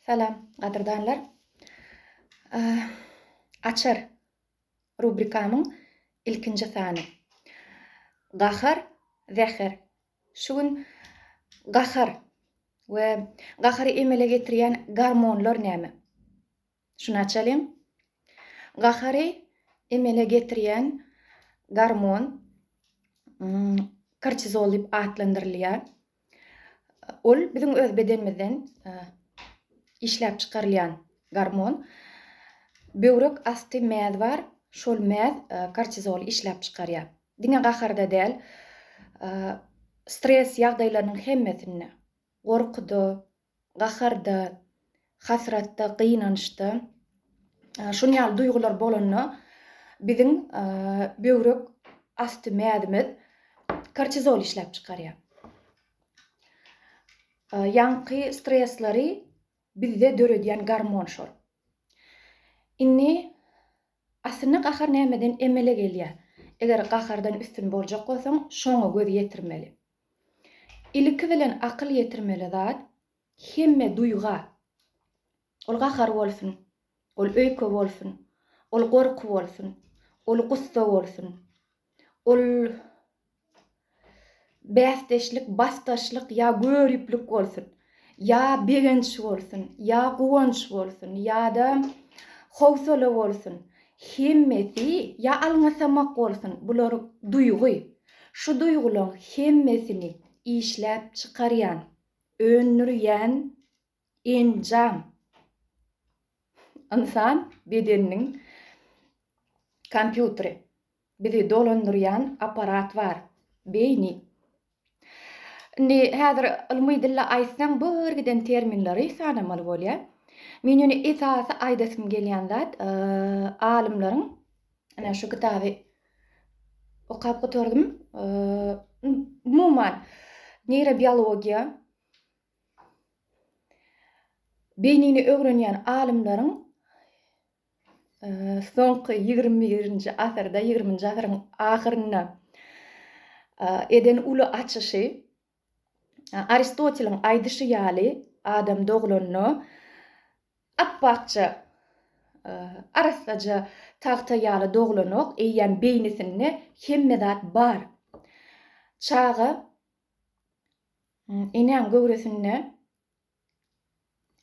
Salam gadyrdanlar. Açar rubrikamyň ilkinji sany. Gahar, zäher. Şu gün gahar we gahary emele getirýän gormonlar näme? Şunaçalem, gahary emele getirýän gormon kortizol diýip atlandyrylýar. Ol biziň öz bedenimizden işläp çykarylýan gormon. Böwrek asty mäz bar, şol mäz kortizoly işläp çykarýar. Diňe gaharda däl, stres ýagdaýlarynyň hemmesinde, gorkuda, gaharda, hasratda, gynançda, şunuň ýaly duýgular bolanda biziň böwrek asty mäzimiz kortizol işläp çykarýar. Ýaňky stresleri bizde döredýän gormon şol. Indi aslynda gahar nämeden emele gelýär? Eger gahardan üstün boljak bolsaň, şoňa göz ýetirmeli. Ilki bilen akyl ýetirmeli zat, hemme duýga, ol gahar bolsun, ol öýke bolsun, ol gorky bolsun, ol gussa bolsun, ol bäsdeşlik, basdaşlyk ýa göriplik bolsun, Ýa begenç bolsun, ýa guwanç bolsun, ýa-da howsala bolsun, hemmesi, ýa alňasamak bolsun, bular duýgy. Şu duýgulaň hemmesini işläp çykarýan, öndürýän enjam, ynsan bedeniniň kompýuteri, bizi dolandyrýan apparat bar, beýni. Indi häzir ylmy dille aýtsaň bu yr giden terminleri sanamaly bolýar. Men ýöne esasy aýdasym gelýän zat alymlaryň ine şu kitaby okap gutardym umuman neýrobiologiýa beýnini öwrenýän alymlaryň soňky ýigrimi birinji asyrda, ýigriminji asyryň ahyrynda eden uly açyşy, Aristoteliň aýdyşy ýaly, adam doglanda apbakja, arassaja tagta ýaly doglanok, eýýäm beýnisinde hemme zat bar. Çaga enäň göwresinde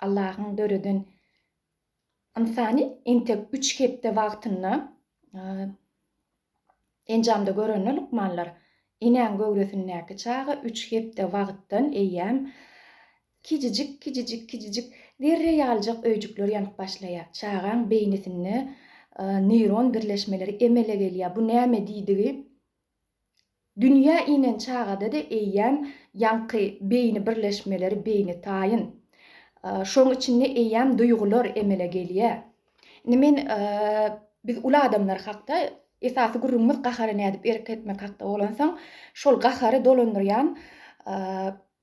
Allahyň döreden ynsany entek üç hepde wagtynda enjamda görende lukmanlar enäň göwresindäki çaga üç hepde wagtdan eýýäm kijijik kijijik kijijik zerre ýalyjak öýjükler ýanyp başlaýar. Çagaň beýnisinde neyron birleşmeleri emele gelýär. Bu näme diýdigi Dünýä inen çagada-da eýýäm ýaňky beýni birleşmeleri beýni taýyn. Şoň içinde eýýäm duýgular emele gelýär. Indi men biz uly adamlar hakda esasy gürrüňimiz gahara nädip erk etmek hakda bolansoň, şol gahary dolandyrýan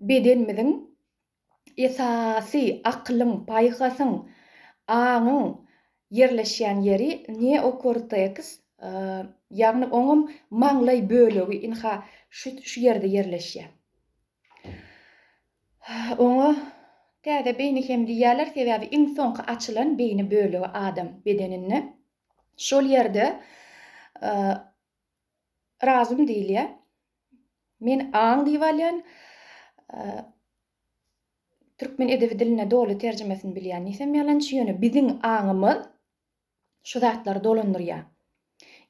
bedenimiziň esasy akylyň, paýhasyň, aňyň ýerleşýän ýeri neokorteks, ýagny oňam maňlaý bölegi ynha şu ýerde ýerleşýär. Oňa täze beýni hem diýýärler, sebäbi iň soňky açylan beýni bölegi adam bedeninde. Şol ýerde Razym diýilýär. Men aň diýip alýan. Türkmen edebi diline doly terjimesini bilýän nisem ýalançy, ýöne biziň aňymyz şu zatlary dolandyrýar.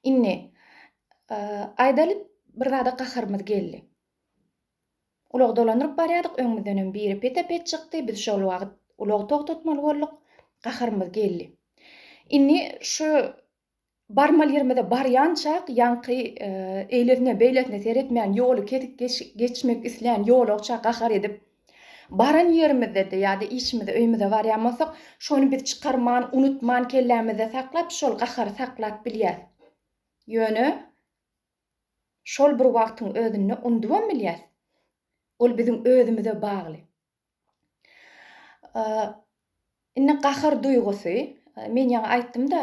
Indi, aýdaly, bir zada gaharymyz geldi. Ulagy dolandyryp barýardyk, öňümizdenem biri pete-pet çykdy, biz şol wagt ulagy togtatmaly bolduk, gaharymyz geldi. Indi şu Barmaly ýerimize barýançak ýaňky eýlesine-beýlesine seretmän ýoly kesip geçmek islän ýolagça gahar edip, baran ýerimizde-de ýa-da işimize, öýümize barýan bolsak, şony biz çykarman, unutman, kellämizde saklap, şol gahary saklap bilýäs. Ýöne şol bir wagtyň özünde unudybam bilýäs. Ol biziň özümize bagly. Indi gahar duýgusy, men ýaňy aýtdym-da,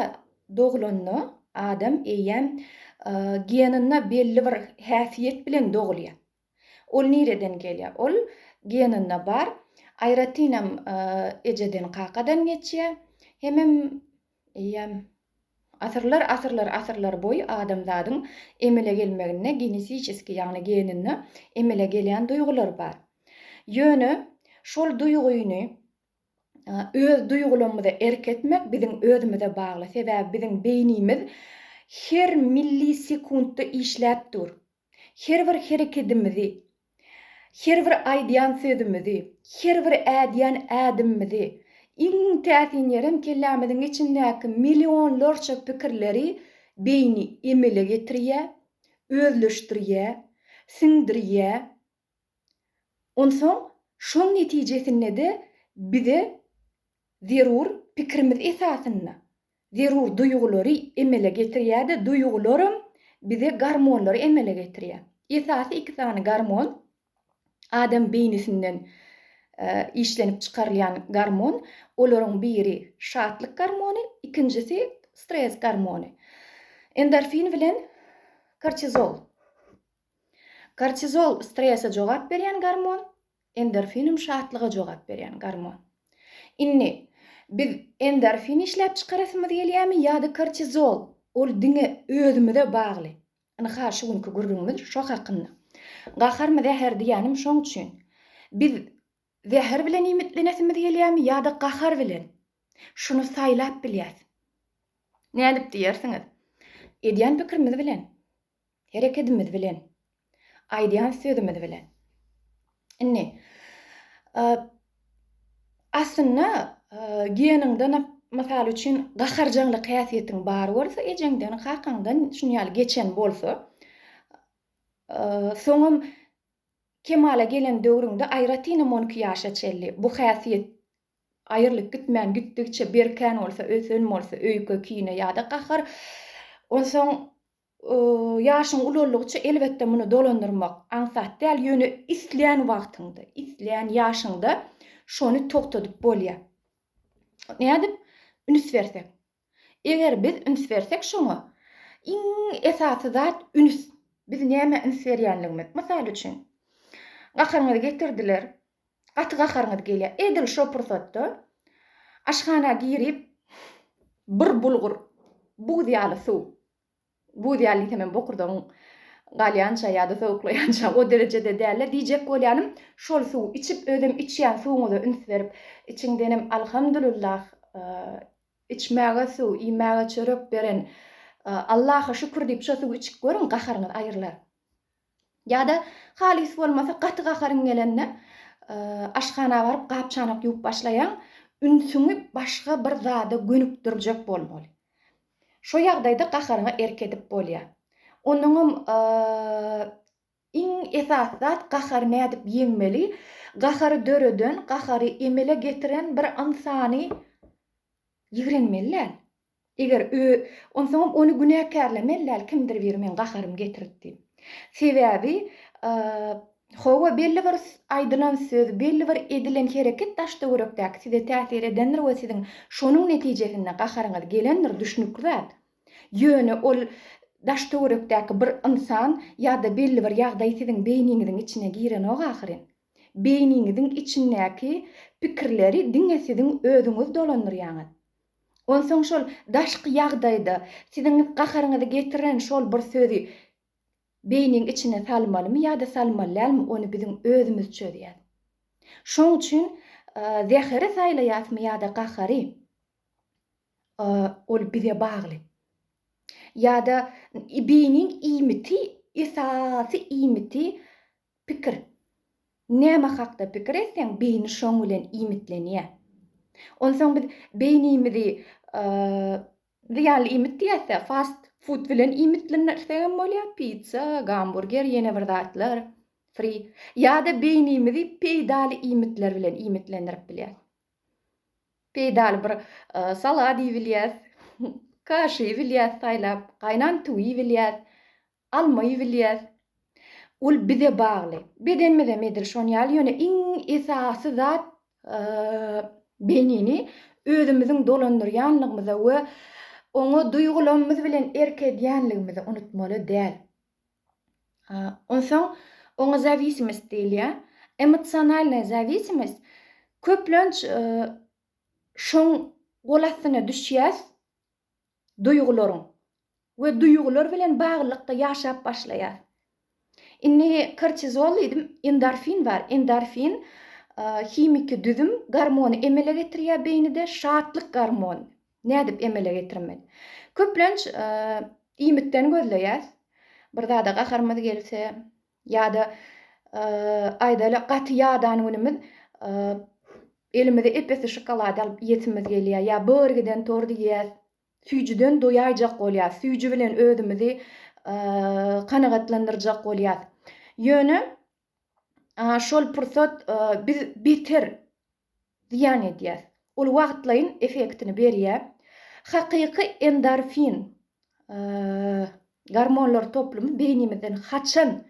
doglanda adam eýýäm geninde belli bir häsiýet bilen dogulýar. Ol nireden gelýär? Ol geninde bar, aýratynam ejeden-kakadan geçýär, hemem Eýýäm. Asyrlar asyrlar asyrlar boýy adamzadyň emele gelmeginde genetiçeskiý ýagny geninde emele gelýän duýgular bar. Ýöne şol duýgyny öz duýgulamyza erk etmek biziň özümize bagly sebäbi biziň beýnimiz her millisekuntda işläp dur. Her bir herekedimizi, her bir aýdýan sözümizi, her bir ädýän ädimimizi, iň täsinýerem kellämiziň içindäki millionlarça pikirleri beýni emele getirýär, özleşdirýär, siňdirýär, Onsoň şoň netijesinde-de bize zerur pikirimiz esasynda zerur duýgulary emele getirýär-de, duýgularam bize gormonlary emele getirýär. Esasy iki sany gormon, adam beýnisinden işlenip çykarylýan gormon, olaryň biri şatlyk gormony, ikinjisi stres gormony, endorfin bilen kortizol. Kortizol, strese jogap berýän gormon, endorfinum şatlyga jogap berýän gormon. Indi, biz endorfin işläp çykarasymyz gelýämi ýa-da kortizol, ol diňe özümize bagly. Ynha, şu günki gürrüňimiz şo hakynda. Gaharmy, zäher diýýänim şoň üçin. Biz zäher bilen iýmitlenesimiz gelýämi ýa-da gahar bilen? Şuny saýlap bilýäs. Nädip diýersiňiz? Edýän pikirimiz bilen. herekedimiz bilen, aýdýan sözümiz bilen. Indi aslynda geniňden mysal üçin gaharjaňlyk häsiýetiň bar bolsa, ejeňden, kakaňdan şuny ýaly geçen bolsa, soňam kemala gelen döwrüňde aýratynam on iki ýaşa çenli bu häsiýet aýrylyp gitmän gitdigiçe berkän bolsa, ösen bolsa, öýke, kine ýa-da gahar, onsoň Ýaşyň ulaldygyça, elbetde, muny dolandyrmak aňsat däl, ýöne islän wagtyňda, islän ýaşyňda şony togtadyp bolýar. Nädip? Üns bersek. Eger biz üns bersek şoňa, iň esasy zat üns. Biz nämä üns berýänligimiz. Mysal üçin, gahryňyzy getirdiler. Gaty gaharyňyz gelýär. Edil şo pursatda aşhana girip bir bulgur, buz ýaly suw, buz ýaly diýsem hem bokurdagyň galýança ýa-da sowuklaýança o derejede dälde diýjek bolýanym, şol suwy içip özem içýän suwuňyza üns berip, içiňdenem Alhamdulillah, içmäge suw, iýmäge çörek beren Allaha şükür diýip şo suwy içip görüň, gaharyňyz aýrylar. Ýa-da halys bolmasa gaty gaharyň gelende aşhana baryp gap-çanak ýuwup başlaýaň, ünsüňi başga bir zada gönükdirjek bolmaly. Şo ýagdaýda gaharyňa erk edip bolýar. Onuňam iň esasy zat gahary nädip ýeňmeli, gahary döreden, gahary emele getiren bir ynsany ýigrenmeli däl. Eger ö, onsoňam ony günäkärlemeli däl, kimdir biri meň gaharym getiripdi. Sebäbi, a, hawa, belli bir aýdylan söz, belli bir edilen hereket daş-töwerekdäki size täsir edendir we siziň şonuň netijesinde gaharyňyz gelendir, düşnükli zat. Ýöne ol daş-töwerekdäki bir ynsan ýa-da belli bir ýagdaý siziň beýniňiziň içine girenok ahyryn. Beýniňiziň içindäki pikirleri diňe siziň özüňiz dolandyrýaňyz. Onsoň şol daşky ýagdaýda siziň gaharyňyzy getiren şol bir sözi beýniň içine salmalymy ýa-da salmaly dälmi, ony biziň özümiz çözýäs. Şoň üçin zäheri saýlaýasmy ýa-da gahary, ol bize bagly. Ýa-da beýniň iýmiti, esasy iýmiti Pikir. Näme hakda pikir etseň, beýni şoň bilen iýmitlenýär. Onsoň biz beýnimizi zyýanly iýmit diýäs-dä, fast food bilen iýmitlendirsegem bolýar, pitsa, gamburger, ýene bir zatlar, fri. Ýa-da beýnimizi peýdaly iýmitler bilen iýmitlendirip bilýäs. Peýdaly bir salat iýip bilýäs, kaş iýip bilýäs saýlap, gaýnan tüwi iýip bilýäs. Almaýy bilýäs. Ol bize bagly. Bedenimizem edil şon ýaly, ýöne iň esasy zat beýnini özümiziň dolandyrýanlygymyza we oňa duýgulamymyz bilen erk edýänligimizi unutmaly däl. Onsoň oňa zawisimist diýilýär. Emosionalnaýa zawisimist köplenç şoň gol astyna düşýäs. duýgularyň we duýgular bilen baglylykda ýaşap başlaýar. Indi kortizol diýdim, endorfin bar. Endorfin himiki düzüm gormony emele getirýär beýnide, şatlyk gormony. Nädip emele getirmeli? Köplenç iýmitden gözleýäs. Bir zada gaharymyz gelse, Ýa-da, aýdaýly, gaty ýadan günümiz elimize ep-esli şokolad alyp iýesimiz gelýär. Ýa bir giden tort iýýäs. Süýjüden doýaýjak bolýas. Süýji bilen özümizi kanagatlandyrjak bolýas. Ýöne şol pursat biz beter zyýan edýär. Ol wagtlaýyn effektini berýär. Hakyky endorfin gormonlar toplumy beýnimizden haçan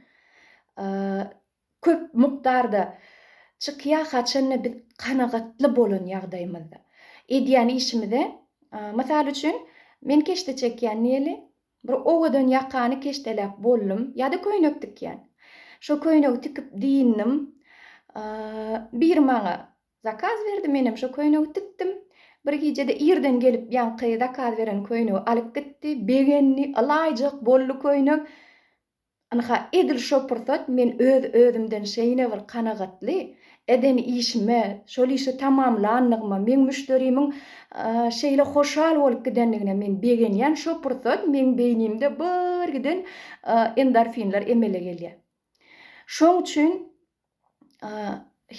köp mukdarda çykýar, haçanda biz kanagatly bolan ýagdaýymyzda. Edýän işimize, mysal üçin, men keşde çekýän diýeli, Bir owadan ýakany keşdeläp boldum, ýa-da köýnek tikýän. Şo köýnegi tikip dyndym. Biri maňa zakaz berdi, menem şo köýnegi tikdim. Bir gijede irden gelip ýaňky zakaz beren köýnegi alyp gitdi. Begendi, ylaýjak boldy köýnek. Ynha, edil şo pursat men öz-özümden şeýne bir kanagatly, eden işime, şol işi tamamlandygyma, meň müşderimiň şeýle hoşal bolup gidendigine men begenýän şo pursat meň beýnimde birgiden endorfinler emele gelýär. Şoň üçin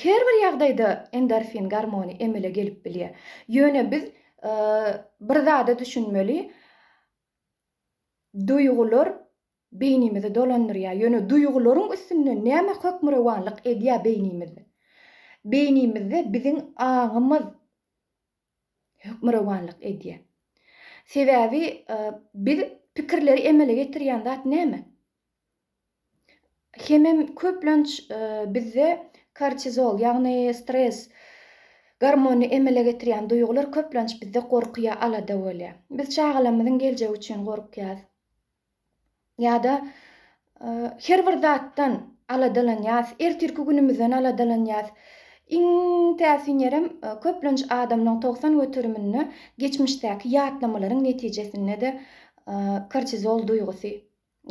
her bir ýagdaýda endorfin gormony emele gelip bilýär. Ýöne biz bir zada düşünmeli, duýgular Beýnimizi dolandyrýar, ýöne duýgularyň üstünden näme hökmürowanlyk edýär beýnimiz? Beýnimizde biziň aňymyz hökmürowanlyk edýär. Sebäbi biz pikirleri emele getirýän zat näme? Hemem köplenç bizde kortizol, ýagny stres gormony emele getirýän duýgular köplenç bizde gorky ýa alada bolýar. Biz çagalarymyzyň geljegi üçin gorkýas. ýa-da her bir zatdan aladalanýas, ertirki günümizden aladalanýas. Iň täsinýerem köplenç adamlaň togsan göteriminde geçmişdäki ýatlamalaryň netijesinde-de kortizol duýgusy,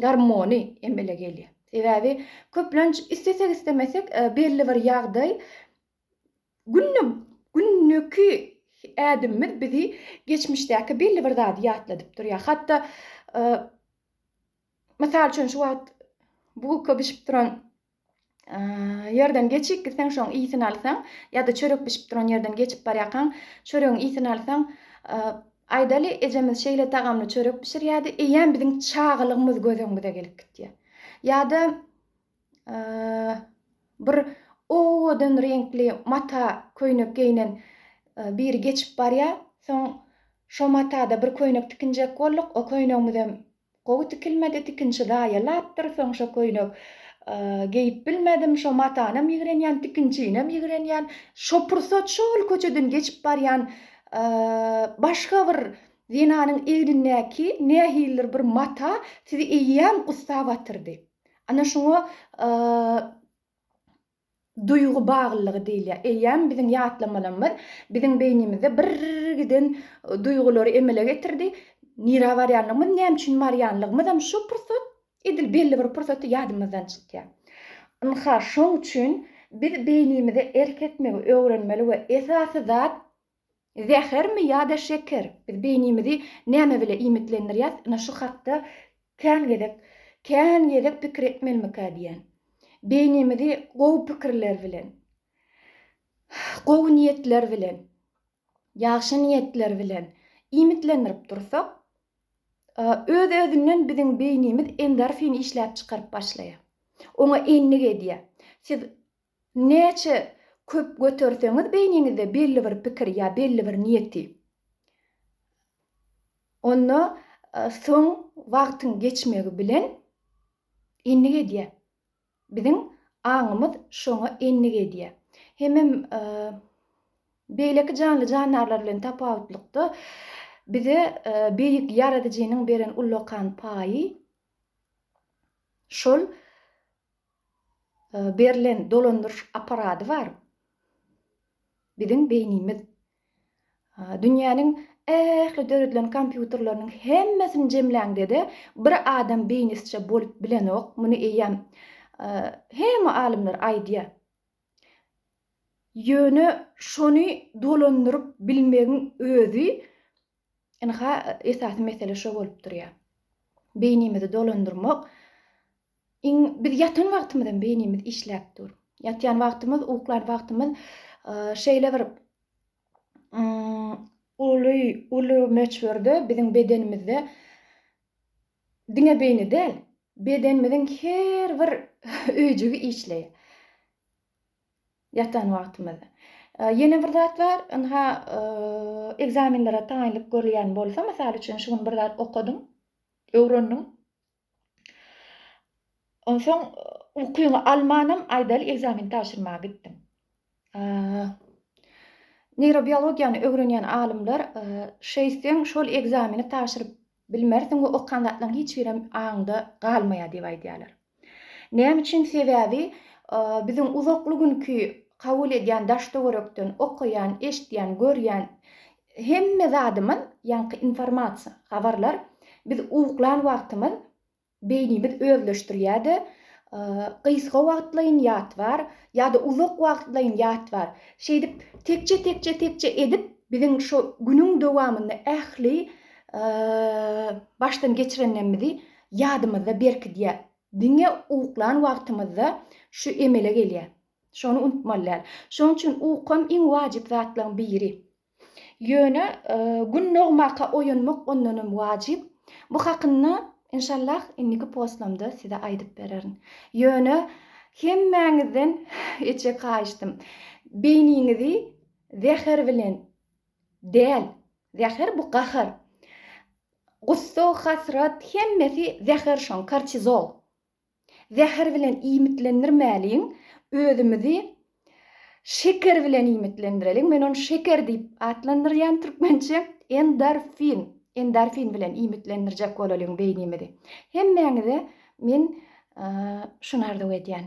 gormony emele gelýär. Sebäbi köplenç istesek-istemesek belli bir ýagdaý Günde gündeki ädimimiz bizi geçmişdäki belli bir zady ýatladyp durýar. Hatda mysal üçin şu wagt bulka bişip duran ýerden geçip gitseň şoň ysyn alsaň ýa-da çörek bişip duran ýerden geçip barýarkaň çöregiň ysyn alsaň aýdaly ejemiz şeýle tagamly çörek bişirýärdi eýýäm biziň çagalygymyz göz öňümize gelip gitýär. Ýa-da bir owadan reňkli mata köýnek geýnen biri geçip barýar. Soň şo matada bir köýnek tikinjek bolduk. O köýnegimizem gowy tikilmedi, tikinçi zaýalapdyr. Soň şo köýnek geýip bilmedim. Şo matanam ýigrenýän, tikinçinem ýigrenýän. Şo pursat şol köçeden geçip barýan başga bir zenanyň egnindäki nähilidir bir mata sizi eýýäm gussa batyrdy. Ana şuňa duýgy baglylygy diýilýär. Eýýäm biziň ýatlamalarymyz biziň beýnimizde birgiden duýgulary emele getirdi. Nirä barýanlygymyz, näme üçin barýanlygymyzam şu pursat, edil belli bir pursatda ýadymyzdan çykýar. Ynha, şoň üçin biz beýnimize erk etmegi öwrenmeli we esasy zat Zähermi ýa-da şeker? Biz beýnimizi näme bile iýmitlendirýäs, ine şu hakda kän gezek, kän gezek pikir etmelimikä diýýän. Beýnimizi gowy pikirler bilen, gowy niýetler bilen, ýagşy niýetler bilen iýmitlendirip dursak, öz-özünden biziň beýnimiz endorfin işläp çykaryp başlaýar. Oňa endik edýär. Siz Näçe köp göterseňiz beýniňizde belli bir pikir ýa belli bir niýeti onda soň wagtyň geçmegi bilen endik edýär. Biziň aňymyz şoňa endik edýär. Hemem beýleki janly-jandarlar bilen tapawutlykda bize beýik Ýaradyjynyň beren ullakan paýy şol berlen dolandyryş apparady bar biziň beýnimiz dünýäniň ähli döredilen kompýuterleriniň hemmesini jemläňdede bir adam beýnisiçe bolup bilenok muny eýýäm hemme alymlar aýdýar ýöne şony dolandyryp bilmegiň özi Ynha, esasy mesele şo bolup durýar. Beýnimizi dolandyrmak, iň, biz ýatan wagtymyzam beýnimiz işläp dur. Ýatýan wagtymyz, uklan wagtymyz şeýle bir uly, uly möçberde biziň bedenimizde diňe beýni däl, bedenimiziň her bir öýjügi işleýär. Ýatan wagtymyz. Ýene bir zat bar, ynha, ekzamenlere taýynlyk görülýän bolsa, mysal üçin, şu gün bir zat okadyň, öwrendiň, onsoň ukyňy almanam, aýdaly, ekzameni tabşyrmaga gitdiň. Neýrobiologiýany öwrenýän alymlar, şeýtseň, şol ekzameni tabşyryp Bilmersiň we okan zatlaryň hiç birem aňyňda galmaýar diýip aýdýarlar. Näme üçin? Sebäbi biziň uzakly günki kabul edýän daş-töwerekden, okaýan, eşidýän, görýän hemme zadymyz, ýaňky informasiýa, habarlar biz uklan wagtymyz Beýnimiz özleşdirilýär-de, gysga wagtlaýyn ýat bar, ýa-da uzak wagtlaýyn ýat bar. Şeýdip, tekje-tekje-tekje edip, biziň şu günüň dowamynda ähli başdan geçirenlerimizi ýadymyzda berkidýär. Diňe uklan wagtymyzda şu emele gelýär. Şony unutmaly däl. Şonuň üçin ukam iň wajyp zatlaryň biri. Ýöne gün dogmaka oýanmak ondanam wajyp. Bu hakynda enşallah indiki postlamda size aýdyp bererin. Ýöne hemmäňizden içek haýyştym. Beýniňizi zäher bilen däl, zäher bu gahar. Gussa, hasrat hemmesi zäher şoň, kortizol. Zäher bilen iýmitlendirmäliň, özümizi şeker bilen iýmitlendireliň. Men ony şeker diýip atlandyrýan türkmençe, endorfin, endorfin bilen iýmitlendirjek bolalyň beýnimizi. Hemmäňize men şuny arzuw edýän.